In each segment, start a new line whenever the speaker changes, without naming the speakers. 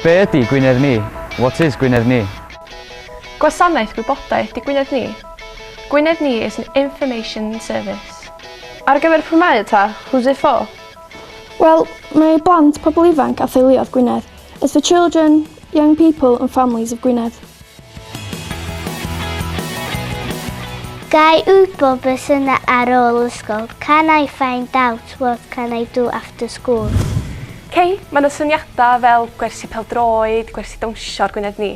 Be ydy Gwynedd Ni? What is Gwynedd Ni? Gwasanaeth
Gwybodaeth di Gwynedd Ni. Gwynedd Ni is an information service. Ar gyfer pwy
mae y ta? Who's it for? Wel,
mae i blant, pobl ifanc a theuluoedd Gwynedd. It's for children, young people and families of Gwynedd.
Gai wybod beth sy'n yna ar ôl ysgol? Can I find out what can I do after school? Cei,
mae yna syniadau fel gwersi peldroed, gwersi dawnsio ar Gwynedd ni.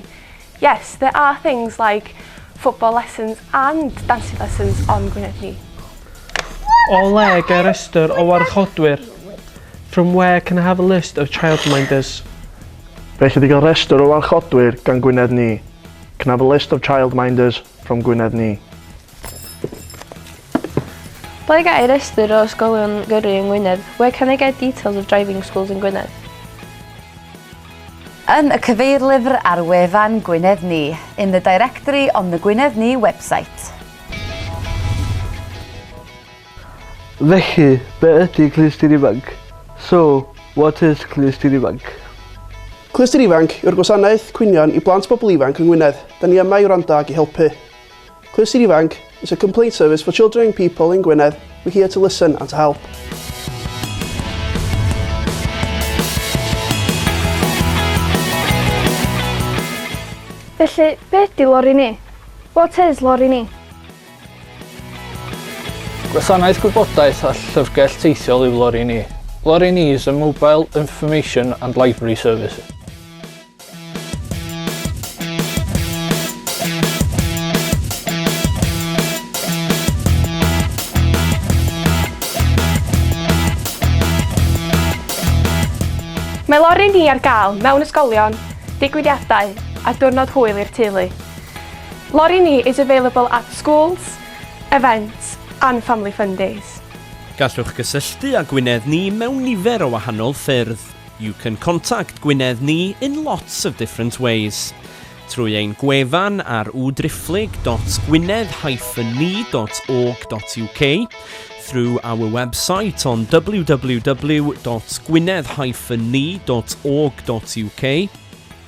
Yes, there are things like football lessons and dancing lessons on Gwynedd Ni.
O le ga i restr o warchodwyr? From where can I have a list of childminders? Felly
di gael restr o warchodwyr gan Gwynedd Ni. Can I have a list of childminders from Gwynedd Ni?
Ble ga'i restr o ysgolion gyrru yng Ngwynedd? Where can I get details of driving schools in Gwynedd?
Yn y cyfeirlyfr ar wefan Gwynedd Ni, in the directory on the Gwynedd Ni website.
Felly, be ydy Clustyn Ifanc? So, what is Clustyn Ifanc? Clustyn
Ifanc yw'r gwasanaeth cwynion i blant a pobl ifanc yng Ngwynedd. Da ni yma i wrando ac i helpu. Clust Ifanc is a complaint service for children young people in Gwynedd, we're here to listen and to help.
Felly, be ydy lori ni? What is lori ni?
Gwasanaeth gwybodaeth a llyfrgell teithiol yw lori ni. Lori ni is a mobile information and library service.
Mae lori ni ar gael mewn ysgolion, digwyddiadau a diwrnod hwyl i'r teulu. Lori ni is available at schools, events and family fun days. Gallwch
gysylltu â Gwynedd ni mewn nifer o wahanol ffyrdd. You can contact Gwynedd ni in lots of different ways. Trwy ein gwefan ar www.gwynedd-ni.org.uk, through our website on www.gwynedd-ni.org.uk,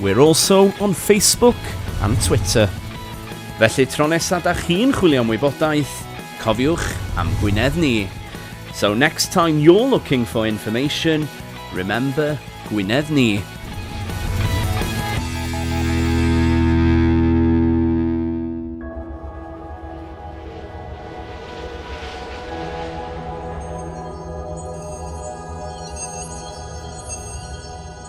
We're also on Facebook and Twitter. Felly tro nesa da chi'n chwilio am wybodaeth, cofiwch am Gwynedd ni. So next time you're looking for information, remember Gwynedd ni.